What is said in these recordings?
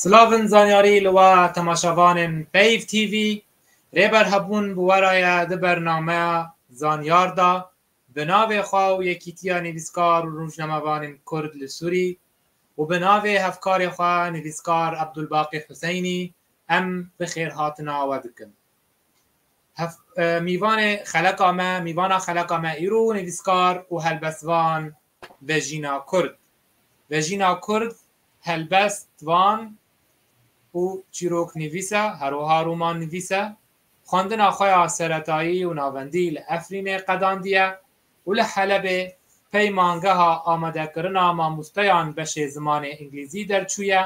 Silavin zanyarî li we temaşevanên Peyv TV. Rêber hebûn bi we re ye di bernameya Zanyar de bi navê xwe û Yekîtiya Nivîskar û Rojnamevanên Kurd li Sûrî û bi navê hevkarê xwe nivîskar Ebdulbaqî Huseynî em bi xêrhatina we dikin. Mîvanê xeleka me, mîvana xeleka me îro nivîskar û helbestvan Vejîna Kurd. Vejîna Kurd helbestvan û çîroknivîs e, her wiha romannivîs e. Xwendina xwe ya seretayî û navendî li Efrînê qedandiye û li Helebê peymangeha amadekirina mamosteyan beşê zimanê îngilîzî derçûye.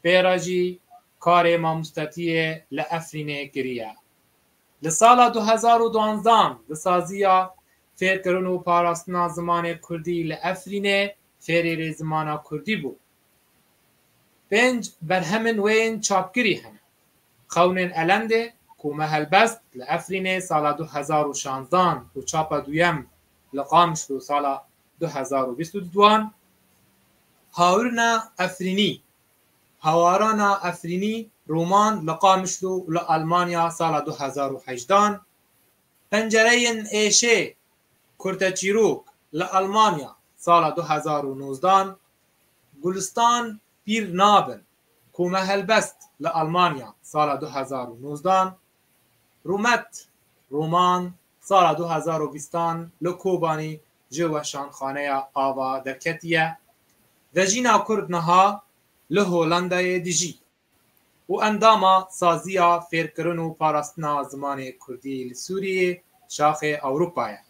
Pê re jî karê mamostatiyê li Efrînê kiriye. Li sala du hezar û duanzdeh di saziya Fêrkirin û parastina zimanê kurdî li Efrînê fêrêrê zimana kurdî bû. Pênc berhemên wê yên çapkirî hene. Xewnên Elendê ku me helbest li Efrînê sala du hezar û şazdeh û çapa duyem li Qamişlo sala Du hezar û bîst û duan Hawirina Efrînî Hawarana Efrînî roman li Qamişlo û li Elmanya sala du hezar û heşt dan Pencereyên êşê Kurteçîrok li Elmanya sala du hezar û nozd dan Gulistan pîr nabin ku me helbest li Elmanya sala du hezar û nozd dan Rûmet roman Sala du hezar û bîst an li Kobanî ji weşanxaneya ava derketiye ve jîna Kurd niha li Hollandayê dijî û endama Saziya Fêrkirin û Parastina Zimanê Kurdî li Sûriyê Şaxê Ewropa ye.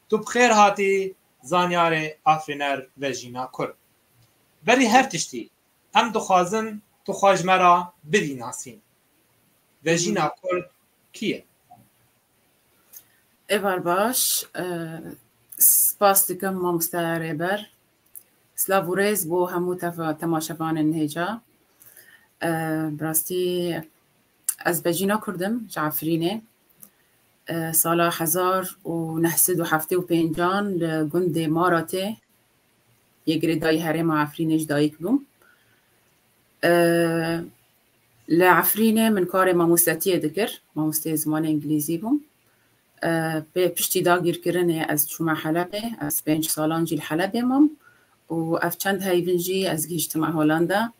Tu bi xêr hatî zanyarê afirîner ve jîna Kurd. Berî her tiştî em dixwazin tu xwe ji me re bidî nasîn. Ve jîna Kurd kî ye? Êvar baş, spas dikim Mamosteya Rêber. Silav û rêz bo hemû temaşevanên hêja. Bi rastî ez Bejîna Kurd im ji Efrînê. Sala hezar û neh sed û heftê û pêncan li gundê Maratê yê girêdayî herêma Efrînê ji dayîk bûm. Li Efrînê min karê mamostetiyê dikir, mamosteyê zimanê îngilîzî bûm. Pê piştî dagîrkirinê ez çûme Helebê, ez pênc salan jî li Helebê mam û ev çend heyvin jî ez gihîştime Holanda.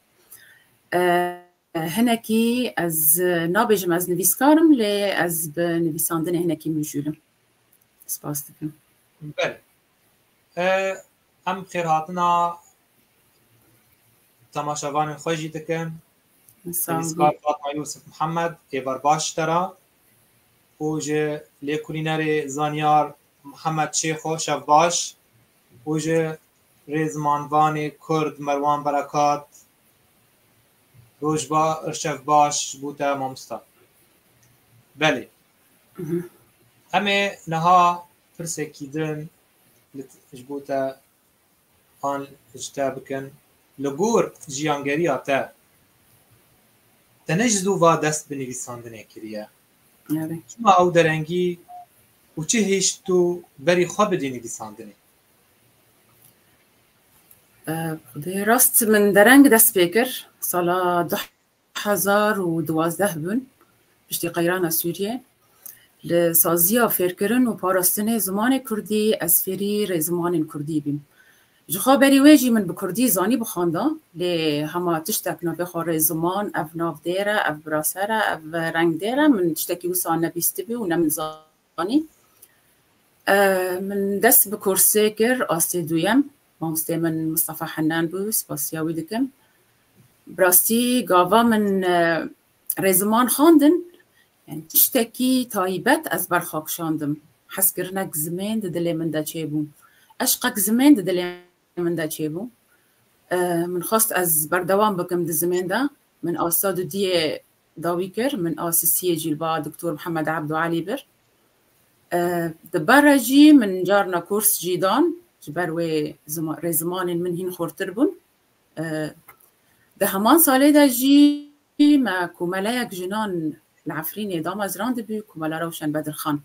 Hinekî ez nabêjim ez nivîskar im lê ez bi nivîsandinê hinekî mijûl im. Spas dikim. Belê. Em xêrhatina temaşevanên xwe jî dikin. Nivîskar Fatma Yûsif Mihemed ê berbaş te re û ji lêkolînerê zanyar Mihemed Şêxo şevbaş û ji rêzimanvanê Kurd Merwan Berekat rojba şevbaş ji bo te mamosta. Belê. Em ê niha Pirsekî din li ji bo te an ji te bikin, li gor jiyangeriya te te ne ji zû va dest bi nivîsandinê kiriye? Çima ew derengî û çi hêşt tu berî xwe bidî nivîsandinê? Dê rast min dereng dest pê kir sala Hezar û duwazdeh bûn piştî qeyrana Sûriyê li saziya fêrkirin û parastinê zimanê kurdî ez fêrî rê zimanên kurdî bîm. Jixwe berî wê jî min bi kurdî zanî bixwanda lê hema tiştek navê xwe rê ziman ev navdêr e, ev birasere, ev rengdêr e min tiştekî wisa nebîstibû û ne min zanîbû. Anî. Min dest bi kursê kir astê duyem. Mamosteyê min Mustafa Henan bû, spasiya wî dikim. Bi rastî gava min rê ziman xwendin yani tiştekî taybet ez berxwe kişandim. Hezkirinek zimên di dilê min de çêbû. Eşqek zimên di dilê min de çêbû. Min xwest ez berdewam bikim di zimên de. Min asta dudiyê Dawî kir, min a sisiyê jî li ba Doktor Mihemed Ebdu Elî bir. Di ber re jî min carina kurs jî dan, ji ber wê rê zimanên min hîn xurtir bûn. Di heman salê de jî me komeleyek jinan li Efrînê damezrandibû, Komela Rewşen Bedirxan.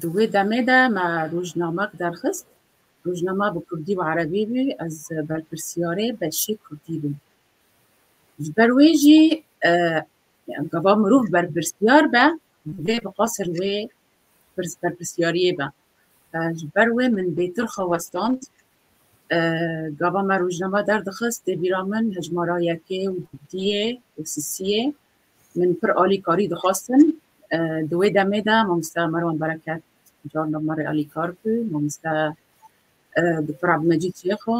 Di wê demê de me rojnamek derxist. Rojname bi kurdî û erebî bû, ez berpirsiyarê beşê kurdî bûm. Ji ber wê jî gava mirov berpirsyar be divê bi qasir wê berpirsyariyê be. Ji ber wê min bêtir xwe westand. Gava me rojname derdixist dê bîra min hejmara yekê û duyê û sisiyê min pir alîkarî dixwestin. Di wê demê de mamoste Merwan Bereket carna me rê alîkar bû, mamoste Dûktor Ebdulmecîd Şêxo,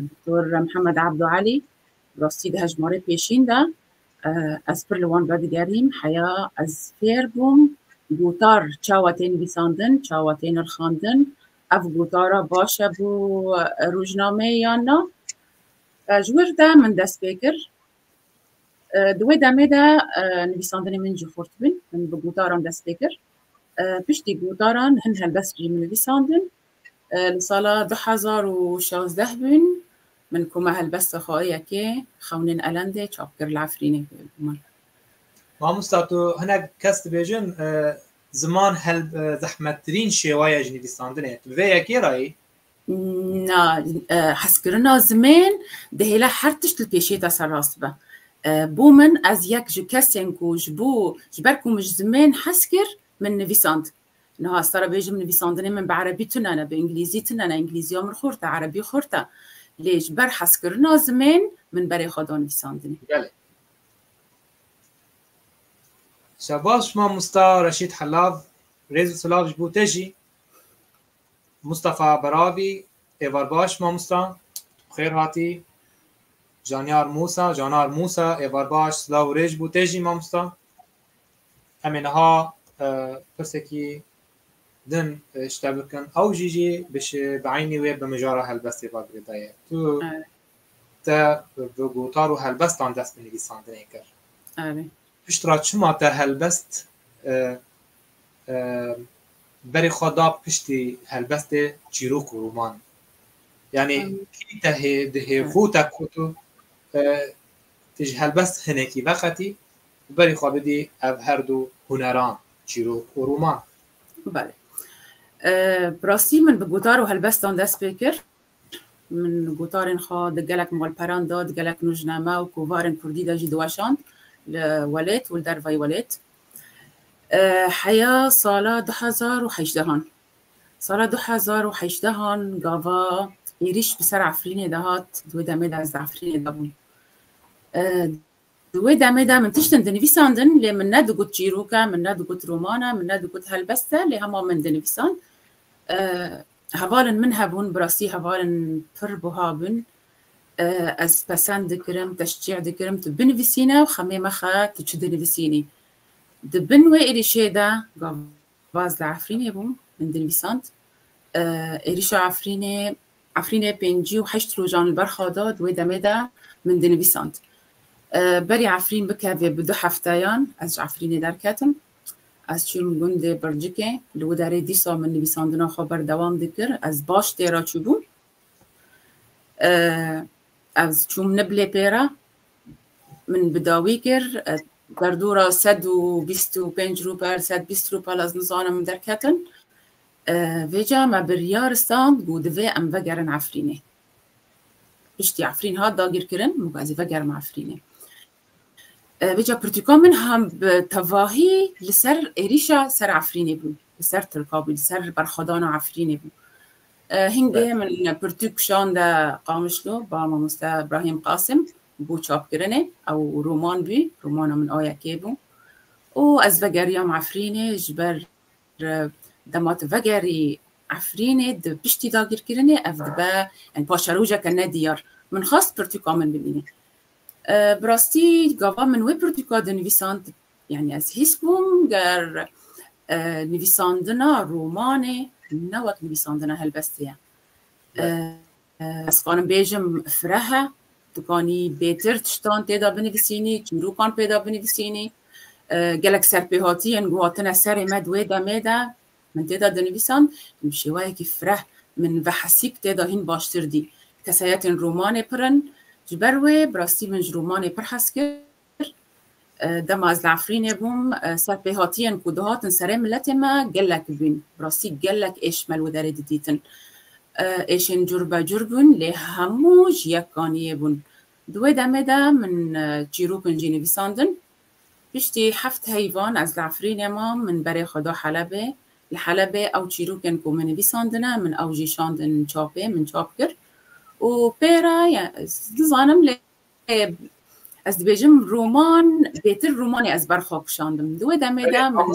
Doktor Mihemed Abdû Elî, Bi rastî di hejmarê pêşîn de ez pir li wan vedigerîm, heya ez fêr bûm gotar çawa tê nivîsandin, çawa tê nirxandin, ev gotara baş e bo rojnameyê yan na. Ji wir de min dest pê kir. Di wê demê de nivîsandinê min jî xurt bûn, min bi gotaran dest pê kir. Piştî gotaran hin helbest jî min nivîsandin. Li sala du hezar û şazdeh bûn min ku me helbesta xwe yekê Xewnên Elendê çap kir li Efrînê bû min. Mamosta tu hinek kes dibêjin ziman helb zehmettirîn şêwa ye ji nivîsandinê ye. Tu bi vê yekê re yî? Na, hezkirina zimên dihêle her tişt li pêşê te serrast be. Bo min ez yek ji kesên ku ji bo ji ber ku min ji zimên hez kir min nivîsand. Niha ez te re bêjim nivîsandinê min bi erebî tune ne, bi îngilîzî tune ne, îngilîziya min xurt e, erebî xurt e. Lê ji ber hezkirina zimên, min berê xwe da nivîsandinê. Gelek şebaş mamosta Reşîd Helav, rêz û silav ji bo te jî. Mustafa Beravî, êvar baş mamosta, bi xêr hatî. Janyar Mûsa, Canar Mûsa, êvar baş, silav û rê ji bo te jî mamosta. Em ê niha pirsekî din ji te bikin, ew jî jî bi eynî wê bi mijara helbestê ve girêda ye. Tu te bi gotar û helbestan dest bi nivîsandinê kir. Pişt re çima te helbest berê xwe da piştî helbestê çîrok û roman? Yanî kî te hê di hêr xwe te ku tu tu ji helbest hinekî veqetî Bi berî xwe bidî ev her du huneran, çîrok û rûman. Belê. Bi rastî min bi gotar û helbestan dest pê kir. Min gotarên xwe di gelek malperan de, di gelek nûjname û kovarên kurdî de jî diweşand li welêt û li dervayî welêt. Heya sala du hezar û heşdehan. Sala du hezar û heşdehan gava êrîş bi ser Efrînê de hat. Di wê demê de ez di Efrînê de bûm. Di wê demê de min tiştin dinivîsandin lê min ne digot çîrok e, min ne digot roman e, min ne digot helbest e lê hema min dinivîsand. Hevalên min hebûn, bi rastî hevalên pir buha bûn. Ez pesend dikirim, teşcî dikirim tu binivîsîne û xemê mexe tu çi dinivîsînî. Di bin wê êrîşê de Baz li Efrînê bû min dinivîsand. Êrîşa Efrînê Efrînê pêncî û heşt rojan li ber xwe da di wê demê de min dinivîsand. Berî Efrîn bikevê bi du hefteyan ez ji Efrînê derketim. Ez çûm gundê Bircikê. Li wê derê dîsa min nivîsandina xwe berdewam dikir. Ez baş tê re çûbûm. Ez çûm Niblê pê re. Min bi dawî kir derdora sed û bîst û pênc rûbel sed bîst rûbel ez nizanim derketin. Vêca me biryar stand û divê em vegerin Efrînê. Piştî Efrîn hat dagîrkirin min got ez ê vegerim Efrînê. Vêca pirtûka min hem bi tevahî li ser êrîşa ser Efrînê bû, li ser Tirka bû, li ser berxwedana Efrînê bû. Hîn guhê min li pirtûk şan de Qamişlo ba mamoste Brahîm Qasim bû çapkirinê. Ew roman bû, romana min a yekê bû. Û ez vegeriyam Efrînê ji ber dema tu vegerî Efrînê di piştî dagîrkirinê ev dibe yani paşerojeke nediyar. Min xwest pirtûka min bibîne. Bi rastî gava min wê pirtûka dinivîsan Yanî ez hîs bûm ger nivîsandina romanê ne wek nivîsandina helbestê ye. Ez karim bêjim fireh e, tu kanî bêtir tiştan têda binivîsînî, çîrûkan pêda binivîsînî. Gelek serpêhatiyên ku hatine serê me di wê demê de min têda dinivîsan bi şêweyekî fireh min ve hesîb têda hîn baştir dî. Kesayetên romanê pir in. Ji ber wê bi rastî min ji romanê pir hez kir. kir. Dema ez li Efrînê bûm ser pêhatiyên ku dihatin serê miletê me gelek bûn. Bi rastî gelek êş me li wê derê didîtin. Êşên curbecur bûn lê hemû ji yek ganiyê bûn. Di wê demê de min çîrok in jî nivîsandin. Piştî heft heyvan ez li Efrînê mam min berê xwe da Helebê. Li Helebê ew çîrokên ku me nivîsandine min ew jî şandin çapê min çap kir û pê re nizanim lê Ez dibêjim roman bêtir romanê ez ber xwe kişandim. Di wê demê de min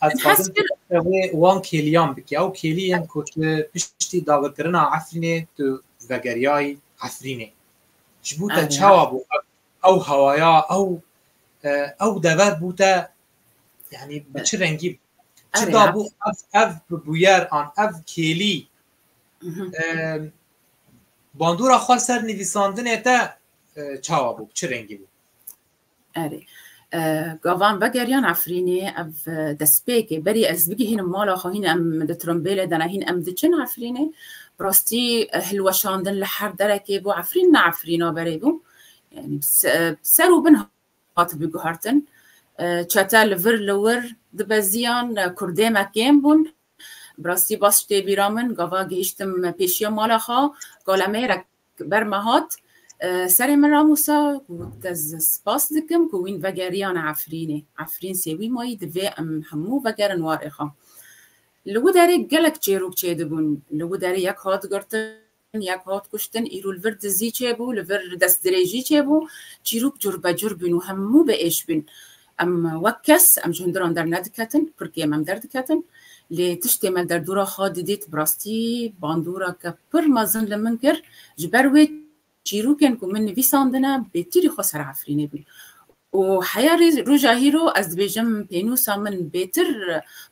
ez dixwazim wê wan kêliyan bikî. Ew kêlî yên ku tu piştî dagirkirina Efrînê tu vegeriyayî Efrînê. Ji bo te çawa bû ew hewaya ew ew dever bû te yanî bi çi rengî bû? Çi dabû ev ev bi bûyer an ev kêlî Bandora xwe ser nivîsandinê te çawa bû çi rengî bû? Erê gavan vegeriyan Efrînê ev destpêkê berî ez bigihînim mala xwe hîn em di trombêlê de ne hîn em diçin Efrînê bi rastî hilweşandin li her derekê bû Efrîn ne Efrîna berê bû yani ser û bin hatibû guhertin çete li vir li wir dibeziyan kurdê me kêm bûn Bi rastî baş tê bîra min gava gihiştim pêşiya mala xwe galemêrek ber me hat serê min ramûsa got ez spas dikim ku wîn vegeriyane Efrînê. Efrîn sêwî ma yî divê em hemû vegerin warê xwe. Li Widerê gelek çêrok çêdibûn. Li Widerê yek hat girtin. yek hat kuştin, îro li vir dizî çêbû, li vir destdirêjî çêbû, çîrok curbecur bûn û hemû bi êş bûn. Em wek kes, em ji hundiran dernediketin, pirkê me derdiketin, lê tiştê me derdora xwe didît, bi rastî bandoreke pir mezin li min kir, ji ber wê çîrokên ku min nivîsandine bêtirî xwe serefirînê bûn Û heya roja hîro ez dibêjim pênûsa min bêtir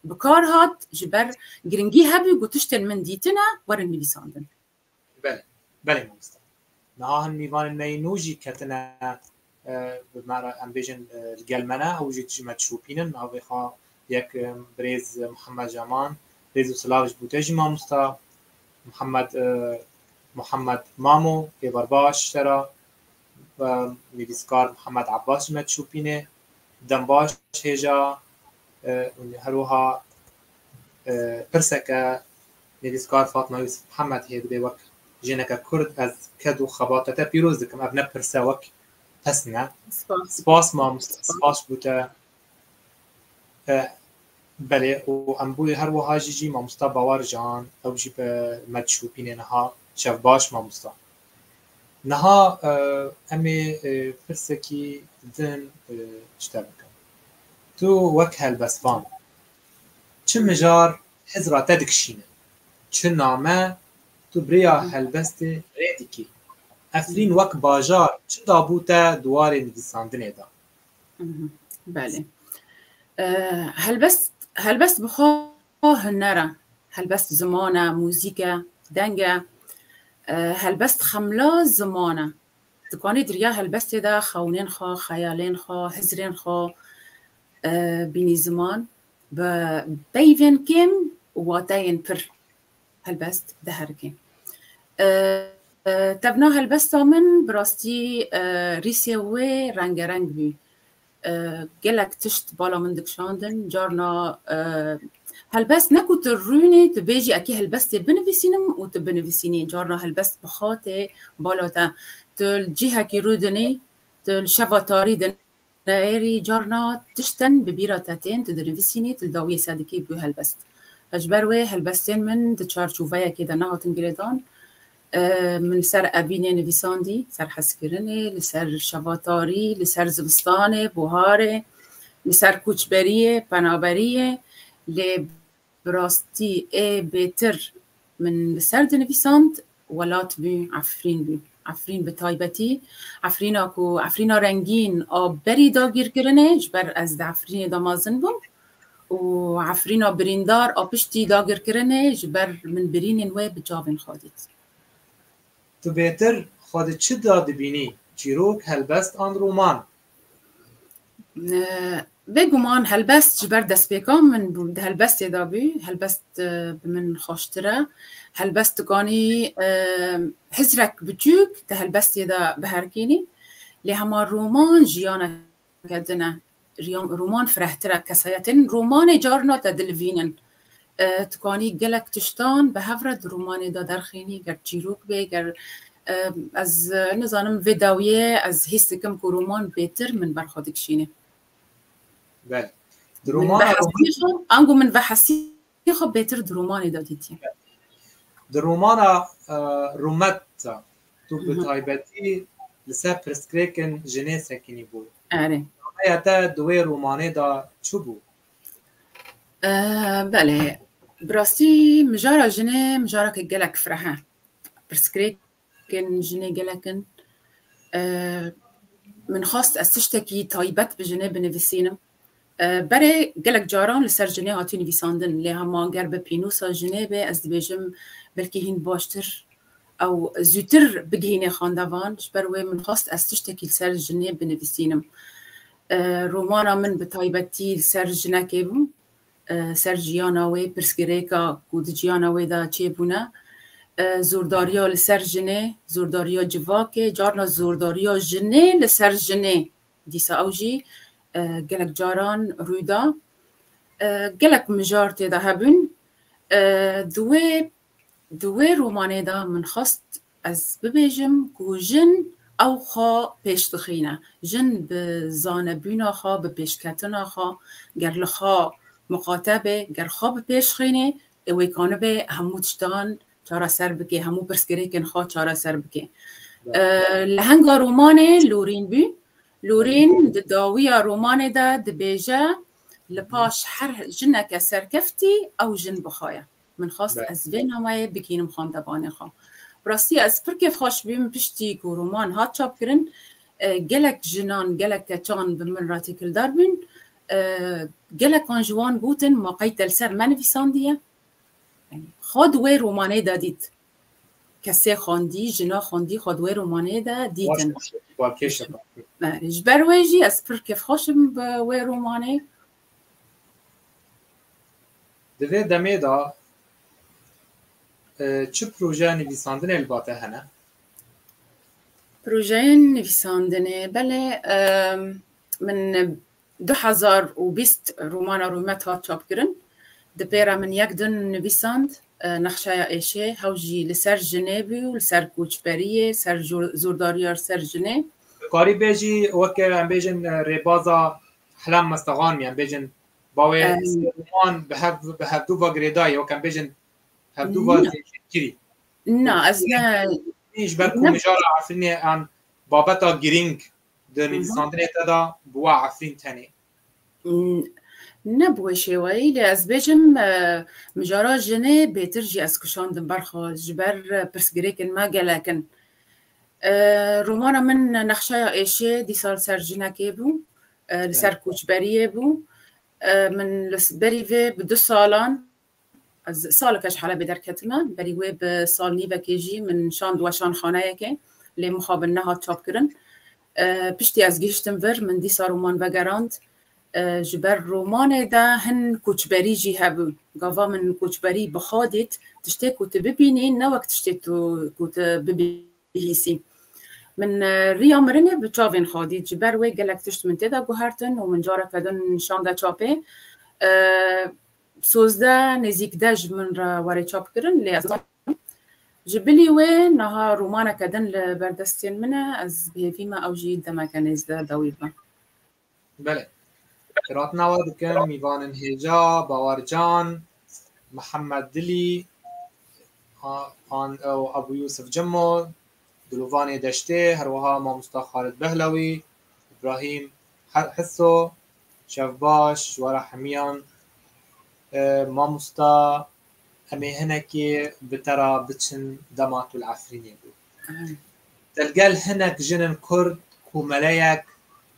bi kar hat ji ber giringî hebû ku tiştên min dîtine werin nivîsandin. Belê, belê mamosta. Niha hin mîvanên me yên nû jî ketine bi me re em bêjin li gel me ne ew jî dijî me dişopînin. Niha vê xwe yek birêz Muhammed Jaman rêz û silav ji bo te jî mamosta. Muhammed Muhammed Mamo êvar baş sera. Nivîskar Mihemed Ebas ji me dişopîne, dembaş hêja û her wiha pirseke nivîskar Fatma Yûsif Mihemed heye dibê wek jineke Kurd ez ked û xebata te pîroz dikim. Ev ne pirse wek pesn e. Spas mam, spas bû te. Belê û em bûyê her wiha jî jî mamosta Bawercan ew jî bi me dişopîne niha. Şev baş mamosta. Niha em ê pirsekî din ji te bikim. Tu wek helbestvan çi mijar Hizra te dikişîne, çi name tu bi rêya helbestê rê dikî? Efrîn wek bajar çi dabû te di warê nivîsandinê de? Belê. Helbest helbest bi xwe A huner e, helbest ziman e, muzîk e, deng e, helbest xemla ziman e. Dikanî diriya helbestê de xewinên xwe, xeyalên xwe, hizirên xwe bînî ziman bi peyvên kêm û wateyên pir helbest diherikin. Tevna helbesta min bi rastî rîsê wê rengereng bû. Gelek tişt bala min dikişandin, carna helbest ne ku tu rûnî tu bêjî ekê helbestê binivîsînim û tu binivîsînî, carna helbest bi xatê bala te tu li cihekî rûdinî, tu li şeva tarî din erî, carna tiştin bi bîra te tên, tu dinivîsînî, tu li dawiyê ser dikî bi helbest. Ji ber wê helbestên min di çarçoveyekê de nehatin girêdan, Min li ser evînê nivîsandî, li ser hezkirinê, li ser şevatarî, li ser zivistanê, buharê, li ser koçberiyê, penaberiyê lê bi rastî ê bêtir min li ser dinivîsand welat bû Efrîn bû. Efrîn bi taybetî Efrîna ku Efrîna rengîn a berî dagîrkirinê ji ber ez di Efrînê de mezin bûm û Efrîna birîndar a piştî dagirkirinê ji ber min birînên wê bi çavên xwe dît. Tu bêtir xwe di çi de dibînî, çîrok, helbest an roman? Bê guman helbest ji ber destpêka min bû, di helbestê de bû, helbest bi min xweştir e. Helbest dikanî hicrek biçûk di helbestê de biherkînî lê hema roman jiyaneke din e. Roman firehtir e kesayetên romanê carna te dilivînin. Tu kanî gelek tiştan bi hev re di romanê de derxînî ger çîrok bê ger ez nizanim vê dawiyê ez hîs dikim ku roman bêtir min ber xwe dikişînê. Bel. Di romana ango min vehesî Tî xwe bêtir di romanê de dîtî? Di romana Rumet de tu bi taybetî li ser pirsgirêkên jinê sekinî bû. Erê. Nameya te di wê romanê de çi bû? Belê. Bi rastî mijara jinê mijareke gelek fireh e. Pirsgirêk Kin jinê gelek in. Min xwest ez tiştekî taybet bi jinê binivîsînim. Berê gelek caran li ser jinê hatiye nivîsandin lê hema ger bi pînûsa jinê be ez dibêjim belkî hîn baştir ew zûtir bigihînê xandevan. Ji ber wê min xwest ez tiştekî li ser jinê binivîsînim. Romana min bi taybetî li ser jinekê bû. ser jiyana wê, pirsgirêka ku di jiyana wê de çêbûne, zordariya li ser jinê, zordariya civakê, carna zordariya jinê li ser jinê dîsa ew jî gelek caran rû da. Gelek mijar tê de hebûn. Di wê Di wê romanê de min xwest ez bibêjim ku jin ew xwe pêş dixîne. Jin bi zanebûna xwe, bi pêşketina xwe ger li xwe miqate be, ger xwe bi pêş xînê ê wê kanibe hemû tiştan çareser bike, hemû pirsgirêkên xwe çareser bike. Lehenga romanê Lorîn bû. Lorîn di dawiya romanê de dibêje li paş her jineke serkeftî ew jin bixaye. Min xwest ez vê nameyê bigihînim xwendevanê xwe. Bi rastî ez pir kêfxweş bûm piştî ku roman hat çapkirin. Gelek jinan, gelek keçan bi min re têkildar bûn. Gelekan ji wan gotin ma qey te li ser me nivîsandiye? Yanî xwe di wê romanê de dît. Kesê xwendî, jina xwendî xwe di wê romanê de dîtin. Ji ber wê jî ez pir kêfxweş im bi wê romanê. Di vê demê de çi projeya nivîsandinê li ba te hene? Projeyên nivîsandinê belê min du hezar û bîst romana Rûmet hat çapkirin. Di pêra min yek din nivîsand Nexşeya Êşê hew jî li ser jinê bû û li ser koçberiyê, ser zordariya li ser jinê. Dikarî bêjî weke em bêjin rêbaza Helam Mestegan mî em bêjin bawê Sirwan bi hev bi hevdû va girêdayê wek em bêjin hevdû va zêkirî. Na ez ne ji ber ku mijara Efrînê an babeta girîng di nivîsandinê te da bi wa Efrîn tenê. Ne bi wê şêweyî lê ez bêjim mijara jinê bêtir jî ez kişandim berxwe ji ber pirsgirêkên me gelek in. Romana min nexşeya êşê dîsa li ser jinekê bû, li ser koçberiyê bû. Min li berî vê bi du salan ez saleke ji Helebê derketime, berî wê bi sal nîvekê jî min şand weşanxaneyekê lê mixabin nehat çapkirin. Piştî ez gihiştim vir, min dîsa roman vegerand. Ji ber romanê de hin koçberî jî hebûn. Gava min koçberî bi xwe dît, tiştê ku tu bibînî ne wek tiştê tu ku tu bibihîsî. Min riya mirinê bi çavên xwe dît, ji ber wê gelek tişt min tê de guhertin û min careke din şande çapê. Sozde nêzîk de ji min re were çap kirin lê ez nazanim. Ji bilî wê niha romaneke din li ber destên min e, ez bihêvî me ew jî demeke nêzde dawî bibe. Bele. Hiratina we dikin mîvanên hêja, bawercan, Mihemed Dilî an ew Ebû Yûsif Cimo, Dilovanê Deştê, her wiha mamosta Xalid Behlewî, Îbrahîm Hisso, Şevbaş, ji wara hemiyan mamosta em ê hinekê bi te re biçin dema tu li Efrînê bû. Di gel hinek jin in kurd komeleyek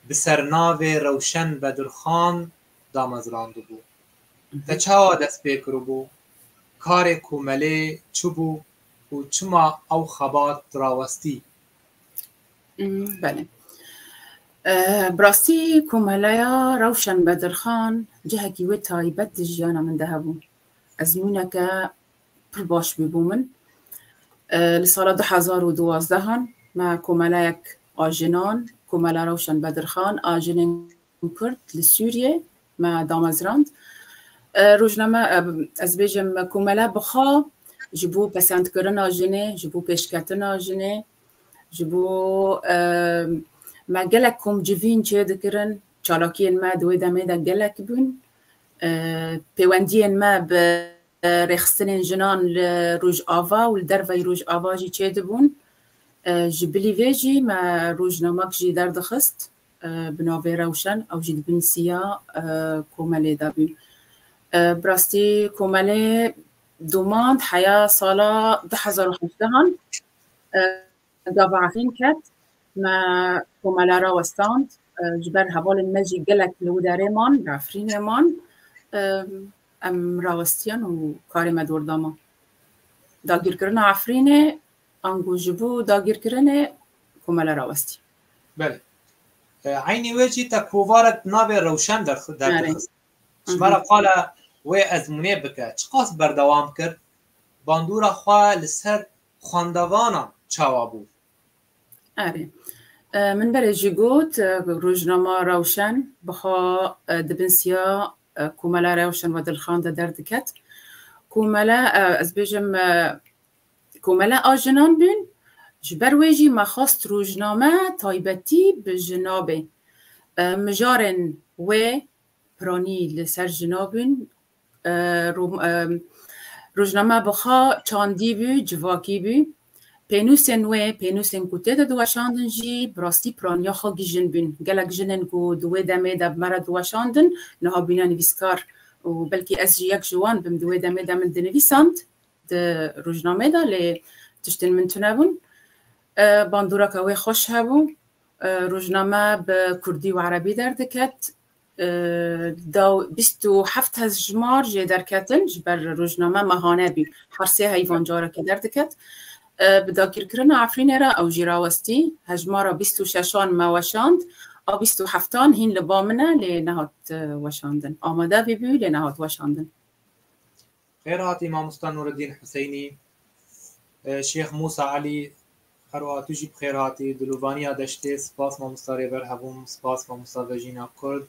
bi sernavê Rewşen Bedirxan damezrandibû. Te çawa dest pê kiribû? Karê komelê çi bû û çima ew xebat rawestî? Belê. Bi rastî komeleya Rewşen Bedirxan cihekî wê taybet di jiyana min de hebû. Ezmûneke pir baş bû bo min. Li sala du hezar û duwazdehan me komeleyek a jinan, Komela Rewşen Bedirxan a Jinên Kurd li Sûriyê me damezrand. Rojname ez bêjim komele bixa ji bo pesendkirina jinê, ji bo pêşketina jinê, ji bo me gelek komcivîn çêdikirin, çalakiyên me di wê demê de gelek bûn. Pêwendiyên me bi rêxistinên jinan li Rojava û li derveyî Rojava jî çêdibûn. Ji bilî vê jî me rojnamek jî derdixist bi navê Rewşen ew jî di bin siya komelê de bûn. Bi rastî komelê domand heya sala du hezar û hevdehan. Gava Efrîn ket, me komela rawestand, ji ber hevalên me jî gelek li Widerê man, li Efrînê man. Em rawistiyan û karê me dor da me. Dagîrkirina Efrînê ango ji bo dagîrkirinê komela rawestî. Belê. Eynî wê jî te kovarek di navê Rewşen de derdixist. Ji me re qala wê ezmûnê bike. Çiqas berdewam kir bandora xwe li ser Xwendevanan çawa bû? Erê. Min berê jî got ku rojnama Rewşen biha di bin siya Komela Rewşen ve Dilxan de derdiket. Komele ez bêjim komele a jinan bûn. Ji ber wê jî me xwest rojname taybetî bi jina bê. Mijarên wê piranî li ser jina bûn. Rojname bixa çandî bû, civakî bû. Pênûsên wê, pênûsên ku tê de diweşandin jî bi rastî piraniya xwe gijin bûn. Gelek jinên ku di wê demê de me re diweşandin niha bûne nivîskar û belkî ez jî yek ji wan bim. Di wê demê de min dinivîsand di rojnameyê de lê tiştên min tune bûn. Bandoreke wê xweş hebû. Rojname bi kurdî û erebî derdiket. da û bîst û heft hezjimar jê derketin ji ber rojname me hane bî her sê heyvan carekê derdiket. Bi dagîrkirina Efrînê re ew jî rawestî. Hejmara bîst û şeşan me weşand a bîst û heftan hîn li ba min e lê nehat weşandin. Amade bîbû lê nehat weşandin. Xêrat î Mamosta Nûreddîn Husêynî, Şêx Mûsa Elî, herwiha tu jî bi xêr hatî Dilovaniya Deştê, spas Mamosta Rêber Hebûm, spas Mamosta Vejîna Kurd,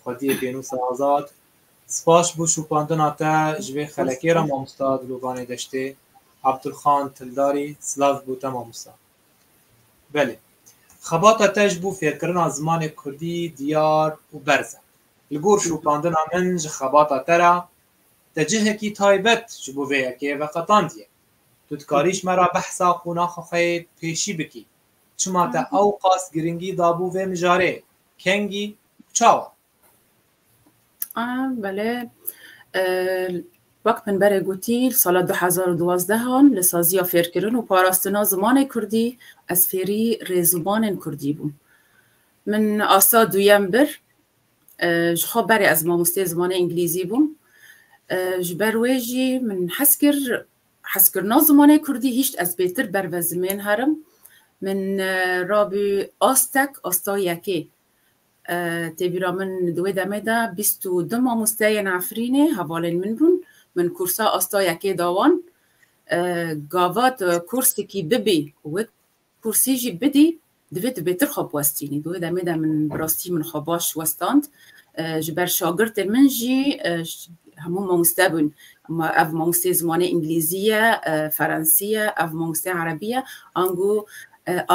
xwediyê Pênûsa Azad, spas bo şopandina te ji vê xelekê re Mamosta Dilovanê Deştê, Abdulxan Tildarî, silav bo te Mamosta. Belê, xebata te ji bo fêrkirina zimanê Kurdî diyar û berz e. Li gor şopandina min ji xebata te re Te cihekî taybet ji bo vê yekê veqetandiye. Tu dikarî ji me re behsa qonaxa xwe yê pêşî bikî. Çima te ewqas giringî dabû vê mijarê? Kengî û çawa? Belê. Wek min berê gotî li sala du hezar û duwazdehan li saziya fêrkirin û parastina zimanê kurdî ez fêrî rêzimanên kurdî bûm. Min asta duyem bir Ji xwe berê ez mamosteyê zimanê îngilîzî bûm. Ji ber wê jî min hes kir heskirina zimanê kurdî hîşt ez bêtir ber ve zimên herim. Min rabû astek asta yekê. Tê bîra min di wê demê de bîst û du mamosteyên Efrînê hevalên min bûn. Min kursa asta yekê da wan. Gava tu kursekî bibî wek Kursî jî bidî divê tu bêtir xwe biwestînî. Di wê demê de min bi rastî min xwe baş westand. Ji ber şagirtên min jî hemû mamoste bûn. Ma ev mamosteyê zimanê îngilîzî ye, ferensî ye, ev mamosteyê erebî ye. Ango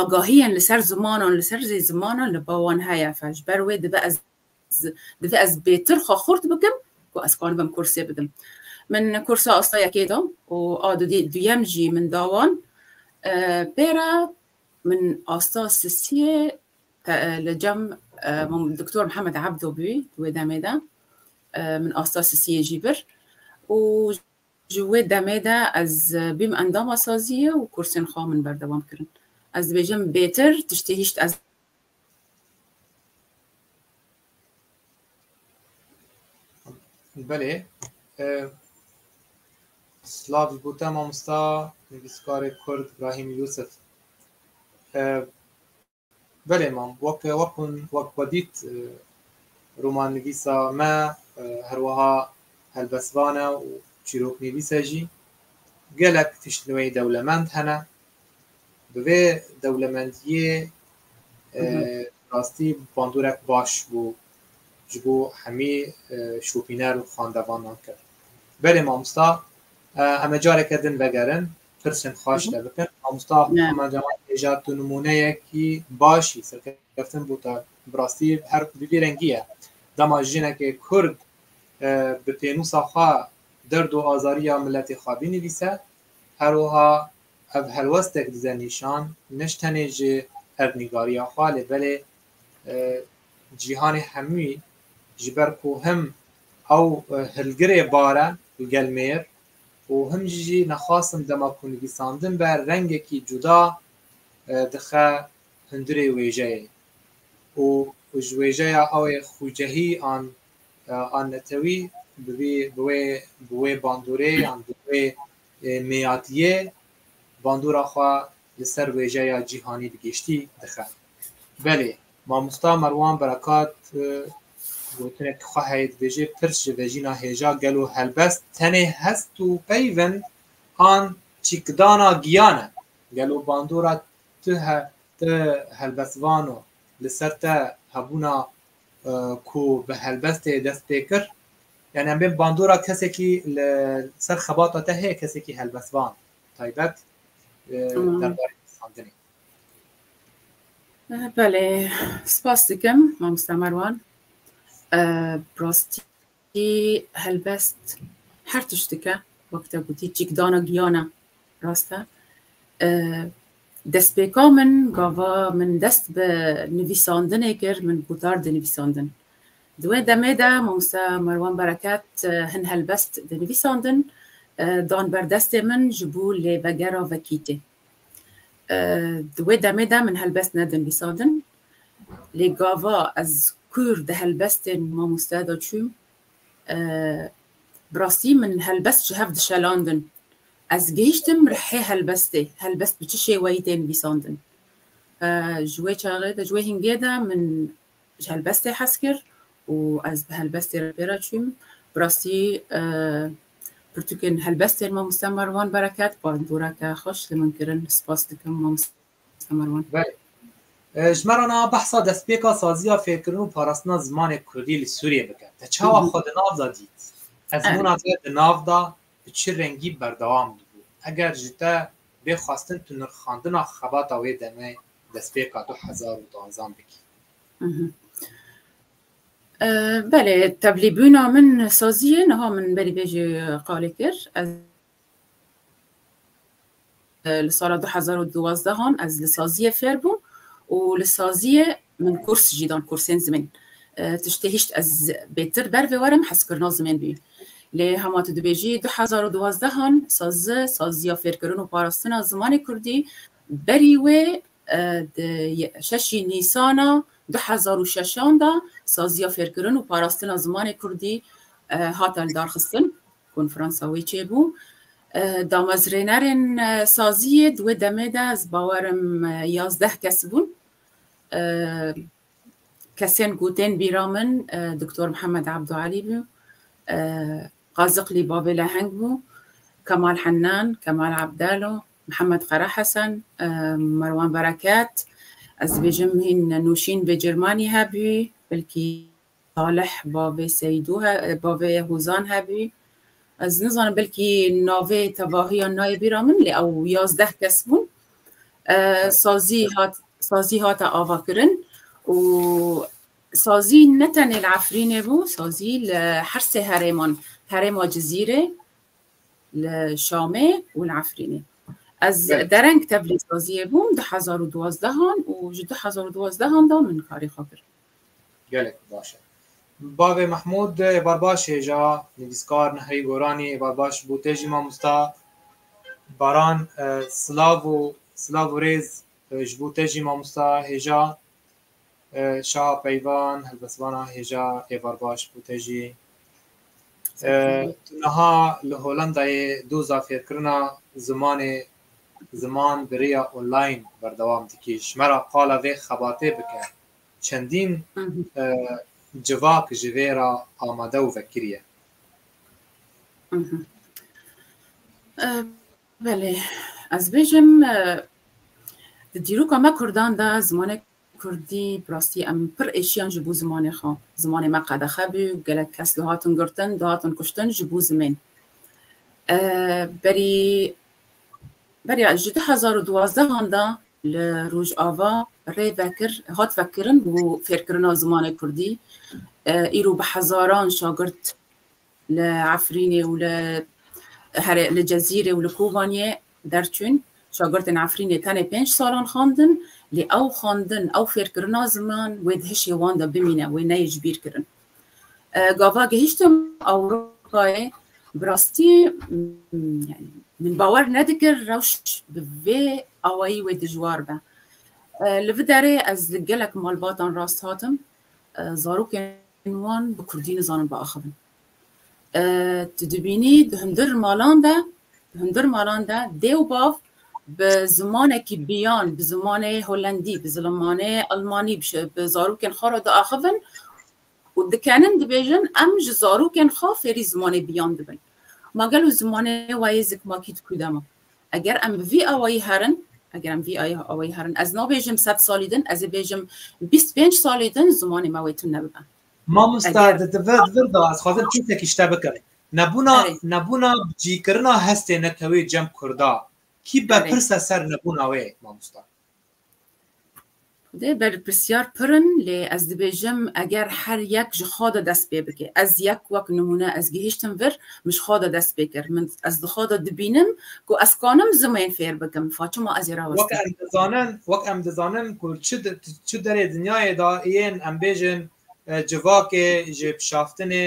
agahiyên li ser zimanan, li ser zî zimanan li ba wan heye. Ji ber wê dibe ez Divê ez bêtir xwe xurt bikim ku ez karibim kursê bidim. Min kursa asta yekê da û a duyem jî min da wan. Pê re min asta sisiyê li cem Doktor Mihemed Ebdo bû di wê demê de. Min asta sisiyê jî bir û ji wê demê de ez bûm endama saziyê û kursên xwe min berdewam kirin. Ez dibêjim bêtir tiştê hîşt ez Belê. Slav ji bo te mamosta nivîskarê Kurd Brahîm Yusif. Belê mam wek wek hûn wek xwe dît romannivîsa me herwiha helbestvan e û çîroknivîs e jî. Gelek tişt li wê dewlemend hene. Bi vê dewlemendiyê rastî bandorek baş bû ji bo hemî şopîner û xandevanan kir. Berê mamosta em ê careke din vegerin pirsên xwe ji te bikin. Mamosta Heman Cemal bêje tu nimûneyekî baş î serkeftin bû te bi rastî her bi vî rengî ye. Dema jinekê kurd bi pênûsa xwe derd û azariya miletê xwe bînivîse Her wiha ev helwestek dide nîşan nij tenê ji erdnîgariya xwe lê belê cîhanê hemûyî ji ber ku him ew hilgirê bar e li gel mêr û him jî nexwastin dema ku nivîsandin be rengekî cuda dixe hundirê wêjeyê û ji wêjeya ew ê xwîcehî an a netewî bi vî bi wê bi wê bandorê yan bi wê mêyatiyê bandora xwe li ser wêjeya cîhanî bi giştî dixe. Belê mamosta Merwan Berekat gotinek xwe heye dibêje pirs ji vejîna hêja gelo helbest tenê hest û peyvin an çîkdana giyan e. Gelo bandora tu he te helbestvano li ser te hebûna ku bi helbestê dest pê kir, yanî em bên bandora kesekî li ser xebata te heye kesekî helbestvan taybet derbarê pirsandinê. Belê, spas dikim mamosta Merwan. Bi rastî Jî helbest her tişt dike, wek te gotî çîkdana giyan e. Rast e. Destpêka min gava min dest bi nivîsandinê kir, min gotar di nivîsandin. Di wê demê de Mamoste Merwan Bereket hin helbest di nivîsandin dan ber destê min ji bo lê vegera vekîtê. Di wê demê de min helbest nedin vîsandin. Lê gava ez kûr di helbestên mamoste de çûm. Bi rastî min helbest ji hev dişelandin. Ez gihîştim rihê helbestê, helbest bi çi şêweyî tên vîsandin. Ji wê çaxê de, ji wê hingê de min ji helbestê hez kir û ez bi helbestê re pê re çûyim. Bi rastî pirtûkên helbestên mamoste Merwan Bereket bandoreke xweş li min kirin. Spas dikim mamoste Merwan. Belê. Ji me re niha behsa destpêka saziya fêrkirin û parastina zimanê kurdî li Sûriyê bike. Te çawa xwe di nav de dît? Ezmûna te di nav de bi çi rengî berdewam dibû? Eger ji te bê xwestin tu nirxandina xebata wê demê destpêka du hezar û danzan bikî. Belê tevlîbûna min saziyê niha min berî vê jî qalê kir ez li sala du hezar û duwazdehan ez li saziyê fêr bûm û li saziyê min kurs jî dan kursên zimên tiştê hişt ez bêtir ber vê werim hezkirina zimên bî lê hema tu dibêjî du hezar û duwazdehan sazi saziya fêrkirin û parastina zimanê kurdî Berî wê di şeşî Nîsana du hezar û şeşan de Saziya Fêrkirin û Parastina Zimanê Kurdî hate lidarxistin, konferansa wê çêbû. Damezrênerên saziyê di wê demê de ez bawer im yazdeh kes bûn. Kesên ku tên bîra min Doktor Mihemed Ebdûelî bû, Qaziqlî Babê Leheng bû, Kemal Hennan, Kemal Ebdelo, Mihemed Qara Hesen, Merwan Bereket, ez dibêjim hîn nûşîn bê Cermanî hebû, belkî Salih bavê Seydû bavê Hozan hebû. Ez nizanim belkî navê tevahiyan nayê bîra min lê ew yazdeh kes bûn. Sazî hat sazî hate avakirin û sazî ne tenê li Efrînê bû, sazî li her sê herêman, herêma Cizîrê, li Şamê û li Efrînê. Ez dereng tevlîsaziyê bûm di hezar û duwazdehan û ji du hezar û duwazdehan de min karê xwe kir. Gelek baş e. Bavê Mehmûd ê barbaş ê ja nivîskar Nihirî Goranî ê barbaş bû tê jî mamosta Baran silav û silav û rêz ji bo te jî mamosta hêja Şaha Peyvan, helbestvana hêja êvar baş bû te jî. Tu niha li Holandayê doza fêrkirina zimanê ziman bi rêya online berdewam dikî. Ji me re qala vê xebatê bike. Çendîn civak ji vê re amade û vekirîye. Belê, ez bêjim di dîroka me Kurdan de zimanek Kurdî, bi rastî em pir êşiyan ji bo zimanê xwe. Zimanê me qedexe bû, gelek kes dihatin girtin, dihatin kuştin ji bo zimên. Berî beriya ji du hezar û duwazdehan de li Rojava rê vekir, hat vekirin bo fêrkirina zimanê Kurdî. Îro bi hezaran şagirt Li Efrînê û li herê li Cezîrê û li Kobaniyê derçûn. Şagirtên Efrînê tenê pênc salan xwendin, lê ew xwendin, ew fêrkirina ziman wê di hişê wan de bimîne, wê neyê ji bîr kirin. Gava gihiştim Ewropayê bi rastî yanî min bawer nedikir rewş bi vê awayî wê dijwar be. Li vê derê ez li gelek malbatan rast hatim, zarokên Em wan bi kurdî nizanin biaxivin. Tu dibînî di hundir malan de, di hundir malan de dê û bav bi zimanekî biyan, bi zimanê holendî, bi zimanê almanî, bi zarokên xwe re diaxivin û dikenin dibêjin em ji zarokên xwe fêrî zimanê biyan dibin. Ma gelo zimanê wayê zikmakî di ku de ma? Eger em bi vî awayî herin, eger em vî awayî herin, ez nabêjim sed salî din, ez ê bêjim bîst pênc salî din zimanê me wê tune bibe. Mamosta di di vir di vir de ez xwazim çûtekî ji te bikim. Nebûna nebûna bicîkirina hestê netewê cem kurda kî berpirse ser nebûna wê mamosta? Dê berpirsiyar pir in lê ez dibêjim eger her yek ji xwe de dest pê bike. Ez yek wek nimûne ez gihiştim vir min ji xwe de dest pê kir. Min ez di xwe de dibînim ku ez kanim zimên fêr bikim. Fatima ez ê rawestim. Wek em dizanin wek em dizanin ku çi çi derê dinyayê de yên em bêjin civakê ji pişaftinê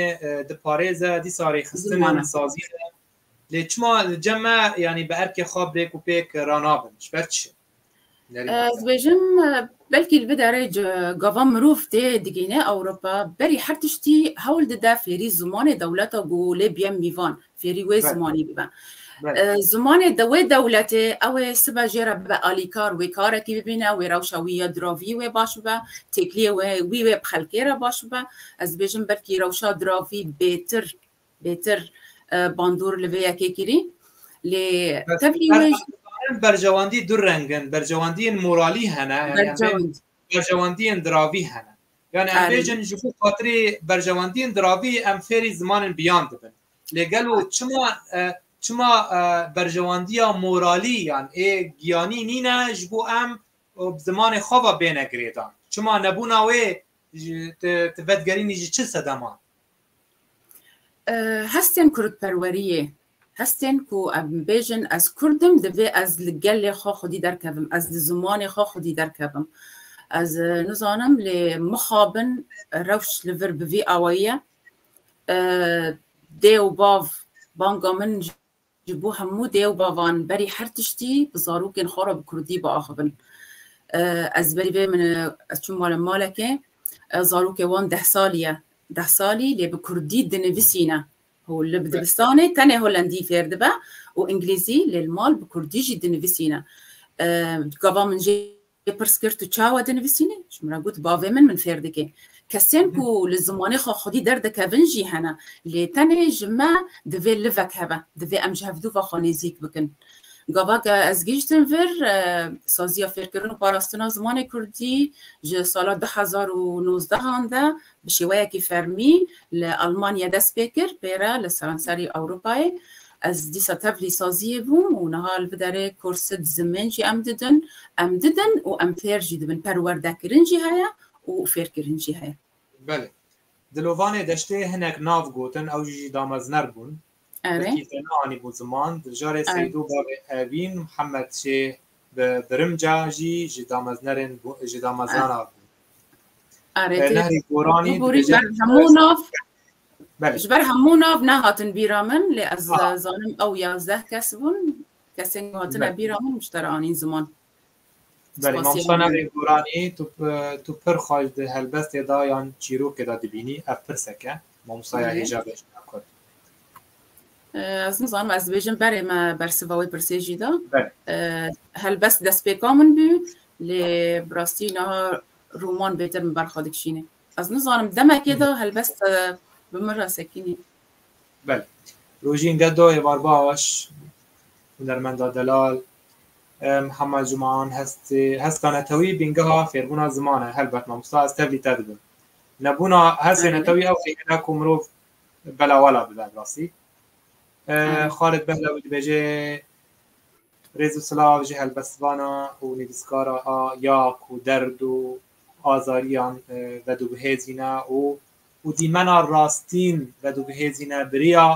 diparêze dîsa rêxistin in sazîn in lê çima li cem me yanî bi erkê xwe bi rêk û pêk ranabin ji ber çi? Ez dibêjim belkî li vê derê gava mirov tê digihîne Ewropa berî her tiştî hewl dide fêrî zimanê dewleta ku lê biye mîvan, fêrî wê zimanî bibe. Zimanê de wê dewletê ew ê sibe jê re bibe alîkar, wê karekî bibîne, wê rewşa wî ya diravî wê baş bibe, têkiliyê wî wê bi xelkê re baş bibe. Ez dibêjim belkî rewşa diravî bêtir Bêtir bandor li vê yekê kirî lê tevlî wê jî. Berjewendî du reng in, berjewendiyên moralî hene, berjewendiyên diravî hene. Yani em bêjin ji bo xatirê berjewendiyên diravî em fêrî zimanên biyan dibin. Lê gelo çima çima berjewendiya moralî yan ê giyanî nîne ji bo em bi zimanê xwe ve bêne girêdan? Çima nebûna wê Ti vedigerînî ji çi sedema? Hestên kurdperweriyê, hestên ku em bêjin ez kurd im divê ez li gelê xwe xwedî derkevim, ez li zimanê xwe xwedî derkevim. Ez nizanim lê mixabin rewş li vir bi vî awayî ye. Dê û bav banga min Ji bo hemû dê û bavan berî her tiştî bi zarokên xwe re bi kurdî biaxivin. Ez berî vê min ez çûm mala malekê zarokê wan deh salî ye. Deh salî lê bi kurdî dinivisîne. Hû li dibistanê tenê holendî fêr dibe û îngilîzî lê li mal bi kurdî jî dinivisîne. Gava min jê Wê pirs kir tu çawa dinivîsînî? Ji min re got bavê min min fêr dike. Kesên ku li zimanê xwe xwedî derdikevin jî hene. Lê tenê ji me divê livek hebe. Divê em ji hevdûva xwe nêzîk bikin. Gavake ez gihîştim vir saziya fêrkirin û parastina zimanê kurdî ji sala du hezar û nozdehan de Bi şêweyekî fermî li Elmanyayê dest pê kir, pê re li seranserî Ewropayê. Ez dîsa tevlî saziyê bûm û niha li biderê korsid zimên jî em didin. Em didin û em fêr jî dibin. Perwerdekirin jî heye û fêrkirin jî heye. Belê. Dilovanê deştê hinek nav gotin, ew jî damezner bûn. Ere. Wekî te neanîbû ziman, diljarê Seydo bavê Evîn Mihemed Şê bi birimca jî ji dameznerên ji damezrana bû. Ere. Nehrê Goranî dibêje. Hemû nav ji ber hemû nav nehatin bîra min lê ez zanim ew yazdeh kes bûn kesên ku hatine bîra min ji te re anîn ziman. Belê mam Soner ê Goranî tu tu pir xweş di helbestê de yan çîrokê de dibînî ev pirsek e mamostaya hêja bejna kurd. Ez nizanim ez dibêjim berê me bersiva wê pirsê jî da. Helbest destpêka min bû lê bi rastî niha roman bêtir min berxa dikişînê. Ez nizanim demekê de helbest bi min re sekînî. Bel. Rojîn ge doyê barbaş hunermenda delal Hema ziman heska netewî bîngeha fêrbûna ziman e. Helbet mamosta ez tevlî te dibim. Nebûna hesê netewî ew xêne ku mirov belawala bibe bi rastî. Xalid Behlewî dibêje rêz û silav ji helbestvana û nivîskara a ya ku derd û azariyan vedûbihêzîne û û dîmena rastîn vedûbihêzîne biriya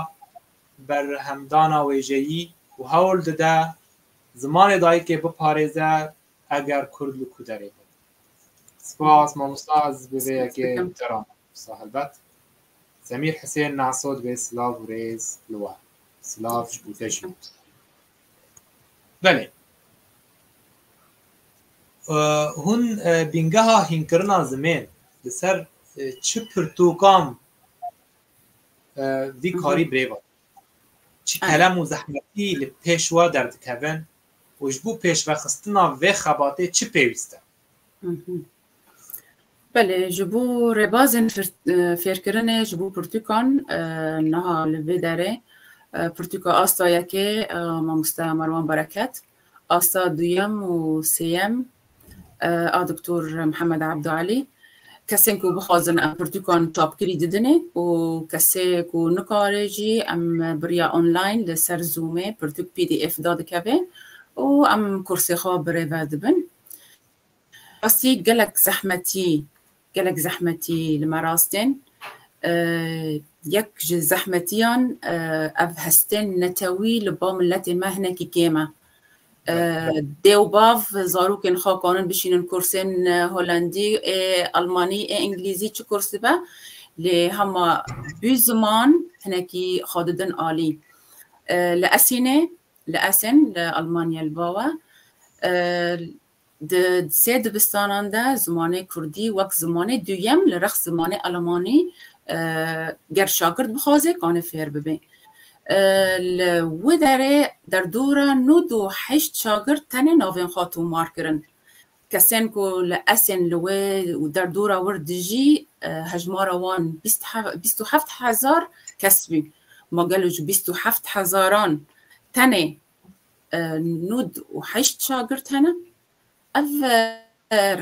berhemdana wêjeyî û hewl dide zimanê dayikê biparêze eger kurd li ku derê be. Spas mamosta ez bi vê yekê te re mamosta helbet. Semîr Hisên Naso dibê silav û rêz li we. Silav ji bo te jî mamosta. Belê. Hûn bîngeha hînkirina zimên li ser çi pirtûkan Vî karî birêva çi kelem û zehmetî li pêş wa derdikevin û ji bo pêşvexistina vê xebatê çi pêwîst e? Belê ji bo rêbazên fêrkirinê ji bo pirtûkan niha li vê derê pirtûka asta yekê mamoste Merwan Bereket Asta duyem û sêyem a Doktor Mihemed Abdûalî, kesên ku bixwazin em pirtûkan çapkirî didinê û kesê ku nikare jî em biriya online li ser zoomê pirtûk pdf da dikeve û em kursê xwe birêve dibin. Rastî gelek zehmetî Gelek zehmetî li me rast tên. Yek ji zehmetiyan ev hestên netewî li ba miletê me hinekî kêm e. Dê û bav zarokên xwe kanin bişînin kursên Holendî ê Elmanî ê Îngilîzî çi kurs dibe lê hema du ziman hinekî xwe didin alî. Li Esînê li Essen li Elmanya li bawe Di sê dibistanan de zimanê kurdî wek zimanê duyem li rex zimanê elemanî ger şagird bixwaze kanê fêr bibe. Li wi derê derdora nod û heşt şagird tenê navên xwe tomar kirin. Kesên ku li Esên li wê û derdora wir dijî hejmara wan bîst û heft hezar kes bû. Ma gelo ji bîst û heft hezaran tenê nod û heşt şagirt hene. Ev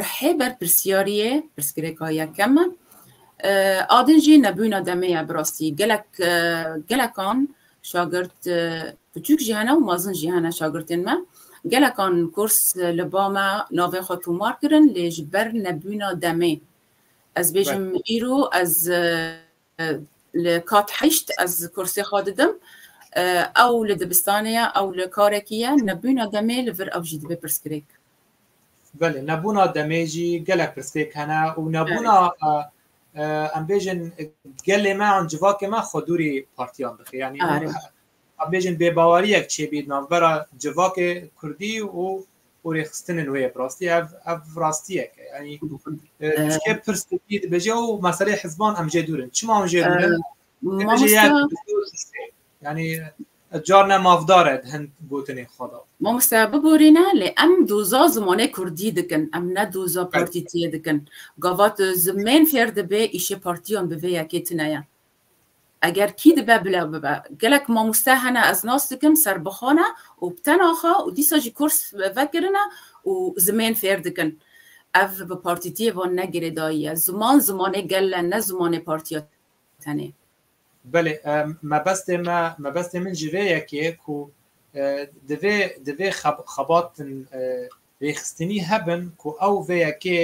rihê ber pirsyariyê, pirsgirêka yekem e. Adin jî nebûna demê ye bi rastî. Gelek gelekan şagirt piçûk jî hene û mezin jî hene şagirtên me. Gelekan kurs li ba me navên xwe tomar kirin lê ji ber nebûna demê ez bêjim îro ez Li kat heşt ez kursê xwe didim. Ew li dibistanê ye, ew li karekî ye, nebûna demê li vir ew jî dibe pirsgirêk. Belê, nebûna demê jî gelek pirsgirêk hene û nebûna em bêjin gelê me an civakê me xwedûrî partiyan dixê. Yanî Em bêjin bêbaweriyek çêbî navbera civakê kurdî û û rêxistinên wê ye bi rastî ev ev rastiyek e yanî çike pirs dibî dibêje û meseleyê hizban em jê dûrin çima em jê dûrin yanî car ne mavdar e hin gotinê xwe da Mamoste biborîne lê em doza zimanê kurdî dikin em ne doza partîtiyê dikin gava tu zimên fêr dibê îşê partiyan bi vê yekê tune ye Eger kî dibe bile bibe. Gelek mamoste hene ez nas dikim serbixwe ne û bi tena xwe û dîsa jî kurs vekirine û zimên fêr dikin. Ev bi partîtiyê ve ne girêdayî ye. Ziman zimanê gel e ne zimanê partiya tenê. Belê mebestê me mebestê min ji vê yekê ku divê divê xebatin rêxistinî hebin ku ew vê yekê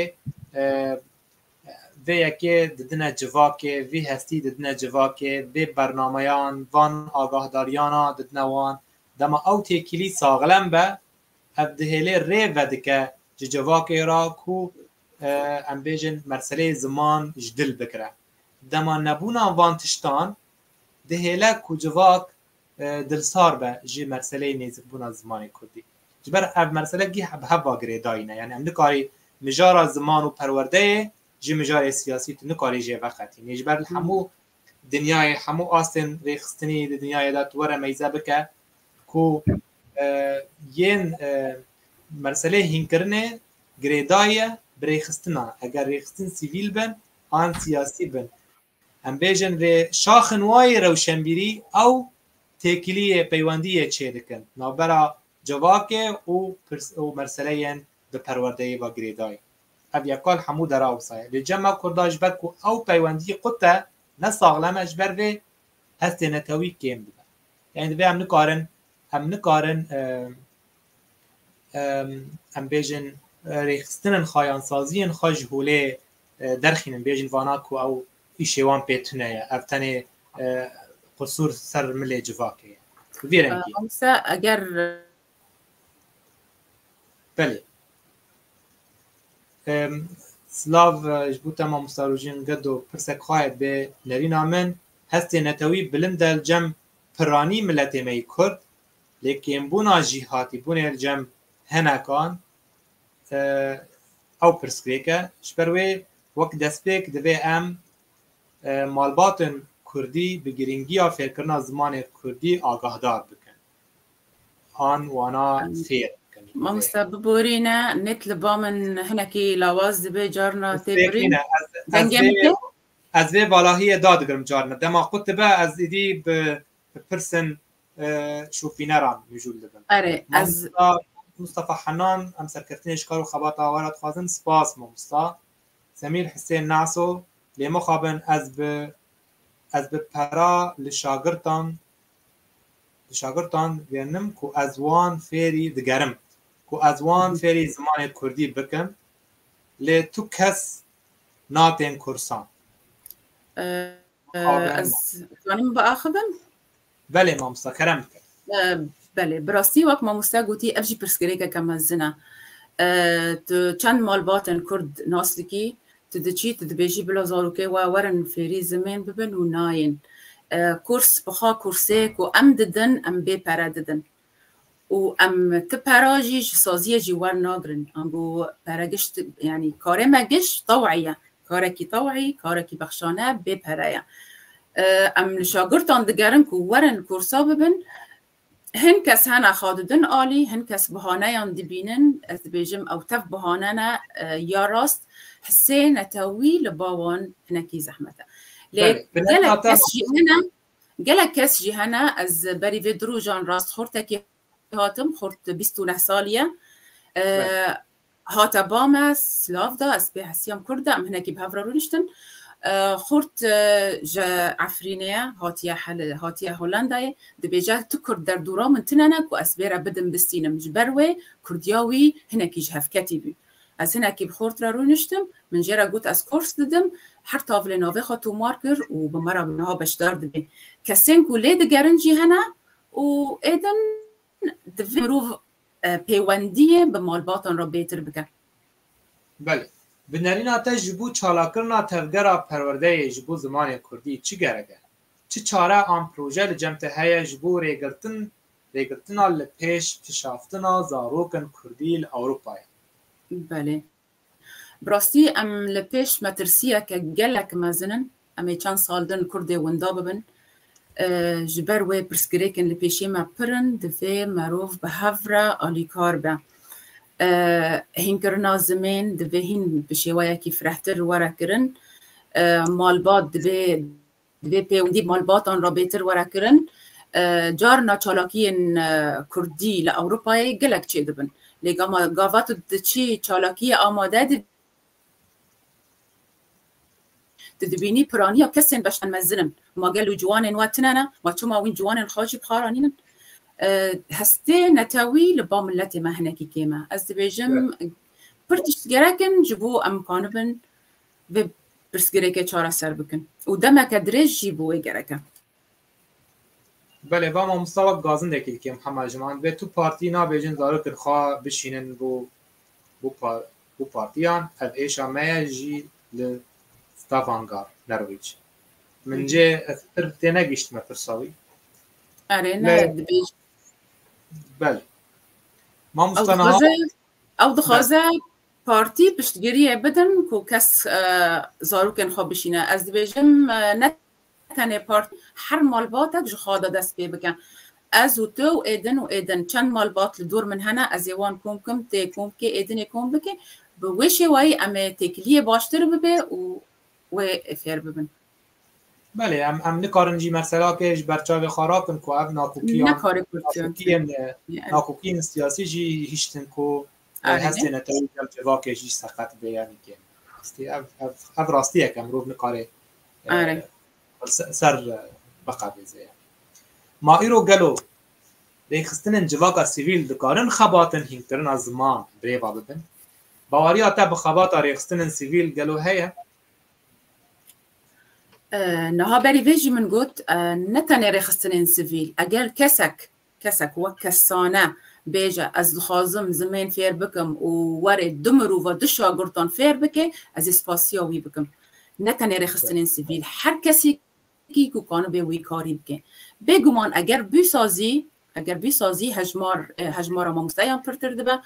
Vê yekê didine civakê, vî hestî didine civakê, vê bernameyan, van agahdariyana didine wan. Dema ew têkilî saxlem be, ev dihêlê rê vedike ji civakê re ku em bêjin meseleyê ziman ji dil bigire. Dema nebûna van tiştan dihêle ku civak Dilsar be ji meseleyê nêzikbûna zimanê kurdî. Ji ber ev mesele gih bi heva girêdayî ne. Yanî em nikarî mijara ziman û perwerdeyê ji mijarê siyasî tu nikarî jê veqetînî. Ji ber li hemû dinyayê, hemû astên rêxistinî di dinyayê de tu were meyze bike ku yên meseleyê hînkirinê girêdayî ye bi rêxistina. Eger rêxistin sivîl bin an siyasî bin. Em bêjin vê şaxin wayî rewşenbîrî ew têkiliyê peywendiyê çê dikin navbera civakê û û meseleyên bi perwerdeyê ve girêdayî. Ev ya kal hemû dera wisa ye. Lê cem me kurda ji ber ku ew peywendiyî qut e, ne saxlem e ji ber vê hestê netewî kêm dibe. Yanî divê em nikarin em nikarin em bêjin rêxistinên xwe yan saziyên xwe ji holê derxînin bêjin vana ku ew îşê wan pê tune ye ev tenê qisûr ser milê civakê ye bi vî rengî Oysa eger belê Slav ji bo te mamosta rojîn gedo pirsek xwaye bê nerîna min hestê netewî bilind del cem piranî miletê me yî kurd lê kêmbûna jîhatîbûnê li cem hinekan Ew pirsgirêk e. Ji ber wê wek destpêk divê em malbatên Kurdî bi girîngiya fêrkirina zimanê Kurdî agahdar bikin an wana fêr bikin. Mamosta biborîne net li ba min hinekî lawaz dibe carna tê birîn. Ez vê valahiyê dadigirim carna dema qut dibe ez êdî bi pirsên şopîneran mijûl dibin. Erê ez Mustafa Henan em serkeftinê ji kar û xebata wan re dixwazin spas mamosta Semîr Hisên Naso lê mixabin ez bi ez bi pera li şagirtan li şagirtan gerinim ku ez wan fêrî digerim ku ez wan fêrî zimanê Kurdî bikim lê tu kes natên kursan. Ez dizanim biaxivim? Belê mamosta kerem bike. Belê bi rastî wek mamosta gotî ev jî pirsgirêkeke mezin e. Tu çend malbatên Kurd nas dikî, tu diçî tu dibêjî bila zarokê we werin fêrî zimên bibin û nayên. Kurs bixa kursê ku em didin em bê pere didin. û em ti pera jî ji saziyê jî wernagirin. Ango pere gişt yanî karê me giş tew'î ye. Karekî tew'î, karekî bexşane bê pere ye. Em li şagirtan digerin ku werin korsa bibin. Hin kes hene xwe didin alî, hin kes bihaneyan dibînin. Ez dibêjim ew tev bihane ne ya rast hisê netewî li ba wan hinekî zehmet e. Lê gelek kes jî hene Gelek kes jî hene, ez berî vê du rojan rast xortekê hatim, xort bîst û neh salî ye. Hate ba me, silav da, ez pê hesiyam kurd e, em hinekî bi hev re rûniştin. Xort ji Efrînê ye, hatiye hatiye Holandayê. Dibêje tu kurd derdora min tune ne ku ez vê re bidim bistînim. Ji ber wê kurdiya wî hinekî ji hev ketî bû. Ez hinekî bi xort re rûniştim, min jê re got ez kors didim, her tavilê navê xwe tomar kir û bi me re bi niha beşdar dibê. Kesên ku lê digerin jî hene û ê din divê mirov pêwendiyê bi malbatan re bêtir bike. Belê. Bi nerîna te ji bo çalakirina tevgera perwerdeyê ji bo zimanê kurdî çi gerek e? Çi çare an proje li cem te heye ji bo rêgirtin Rêgirtina li pêş kişaftina zarokên kurdî li Ewropayê. Belê. Bi rastî em li pêş metirsiyeke gelek mezin in. Em ê çend sal din kurdê winda bibin. Ji ber wê pirsgirêkên li pêşê me pir in, divê merov bi hev re alîkar be. Hînkirina zimên divê hîn bi şêweyekî firehtir were kirin. Malbat dibê Di vê pêwendî malbatan re bêtir were kirin, carina çalakiyên kurdî li Ewropayê gelek çêdibin. Lê gama gava tu diçî çalakiyê amade dibî, tu dibînî piraniya kesên beşten mezin in. Ma gel û ciwanên we tune ne, ma çima wîn ciwanên xwe jî bi xwe re nînin? Hestê netewî li ba miletê me hinekî kêm e. Ez dibêjim pir tişt gerek in ji bo em bikanibin, vê pirsgirêkê çareser bikin û demeke dirêj jî bi wê gerek e. Belê va mamosta wek gazindekî dikê Mihemed Jiman, vê tu partî nabêjin zarokên xwe bişînin bo bo partiyan, ev êşa me ye jî li Stavanger, Norwîc. Min cê ez pir tênegihiştime pirsa wî. Erê ne dibêj. Belê. Mamosta niha. Ew dixwaze Partî piştgiriyê bidin ku kes zarokên xwe bişîne. Ez dibêjim ne tenê partî her malbatek ji xwe de dest pê bike. Ez û tu û êdin û êdin çend malbat li dor min hene ez ê wan kom bikim, tu ê kom bikî, êdin ê kom bike. Bi wê şêwayî em ê têkiliyê baştir bibe û wê ê fêr bibin. Belê em em nikarin jî merserakê ji ber çavê xwe rakin ku ev nakokiyan, nakokiyên nakokiyên siyasî jî hiştin ku Ev hestê netewî gel civakê jî seqet bê yanî kêm rastî ev ev ev rastî ye ke mirov nikare ser biqebêze ye. Ma îro gelo rêxistinên civaka sivîl dikarin xebatin hînkirina ziman rêva bibin? Baweriya te bi xebata rêxistinên sivîl gelo heye? Niha berî vê jî min got ne tenê rêxistinên sivîl eger kesek Kesek wek kessane bêje ez dixwazim zimên fêr bikim û were du mirova du şagirdan fêr bike, ez ê spasiya wî bikim. Ne tenê rêxistinên sivîl, her kesekî ku kanibe wî karî bike. Bêguman eger bûsazî, eger bûsazî hejmar, hejmara mamosteyan pirtir dibe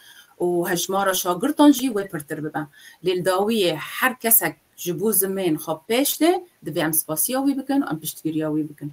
û hejmara şagirdan jî wê pirtir bibe. Lê li dawiyê her kesek ji bo zimên xwe pêş dê, divê em spasiya wî bikin û em piştgiriya wî bikin.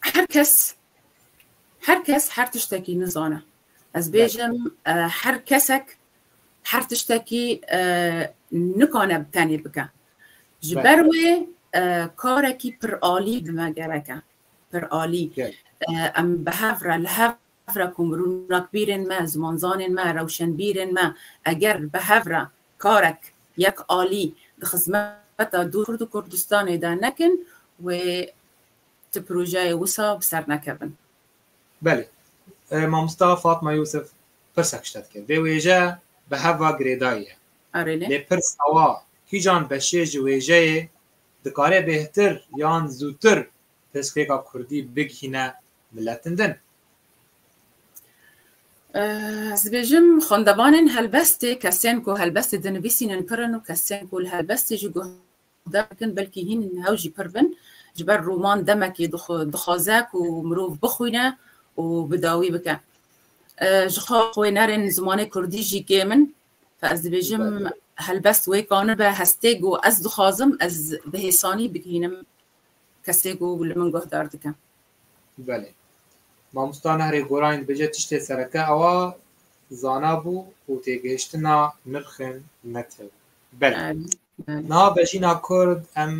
Her kes her kes her tiştekî nizane. Ez bêjim her kesek her tiştekî nikane bi tenê bike. Ji ber wê karekî pir alî bi me gereke. Pir alî. Em bi hev re li hev re ku mirûnakbîrên me, zimanzanên me, rewşenbîrên me eger bi hev re karek yek alî di xizmeta Dûr û Kurdistanê de nekin wê Ti projeyê wisa bi ser nekevin. Belê. Mamosta Fatma Yûsif pirsek ji te dike. Vê wêje bi hev ve girêdayî ye. Arê ne. Lê pirs awa, kîjan beşê ji wêjeyê dikare bêhtir yan zûtir pirsgirêka kurdî bigihîne miletin din? Ez dibêjim xwendevanên helbestê, kesên ku helbestê dinivîsînin pir in û kesên ku li helbestê jî guh der dikin belkî hîn hew jî pir bin ji ber roman demekê dixwaze ku mirov bixwîne û bi dawî bike ji xwe xwênerên zimanê kurdî jî kêm in ez dibêjim helbest wê kanibe hestê ku ez dixwazim ez bi hêsanî bigihînim kesê ku li min guhdar dike Belê Mamosta Nehrê Gorayîn dibêje tiştê sereke ewa zana bû û têgihiştina nirxên net hebû. Belê. Niha vejîna Kurd em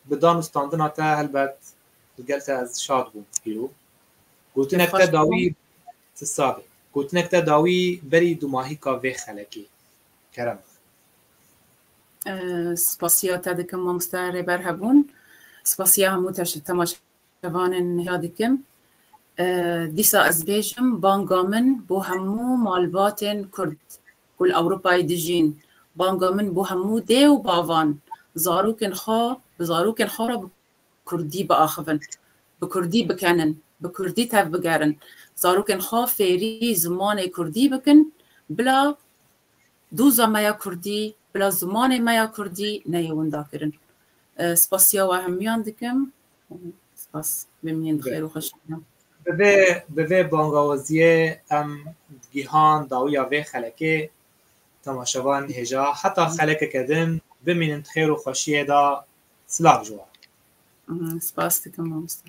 bi dan û standina te helbet li gel te ez şad bûm pîro. Gotinek te dawî ti save. Gotinek te dawî berî dumahîka vê xelekê. Kerem. Spasiya te dikim mamoste rêber hebûn. Spasiya hemû temaşevanên hêya dikim. Dîsa ez bêjim banga min bo hemû malbatên Kurd. Ku li Ewropayê dijîn, banga min bo hemû dê û bavan, zarokên xwe bi zarokên xwe re bi kurdî biaxivin, bi kurdî bikenin, bi kurdî tevbigerin, zarokên xwe fêrî zimanê kurdî bikin, bila doza me ya kurdî, bila zimanê me ya kurdî neyê windakirin. Spasiya we hemûyan dikim. Spas. Bimînin bi xêr û xweşî re. Bi vê bi vê bangawaziyê em gihan dawiya vê xelekê temaşevan hêja heta xelekeke din bimînin di xêr û xweşiyê de silav ji wan. Mhm, Spas dikim mamoste.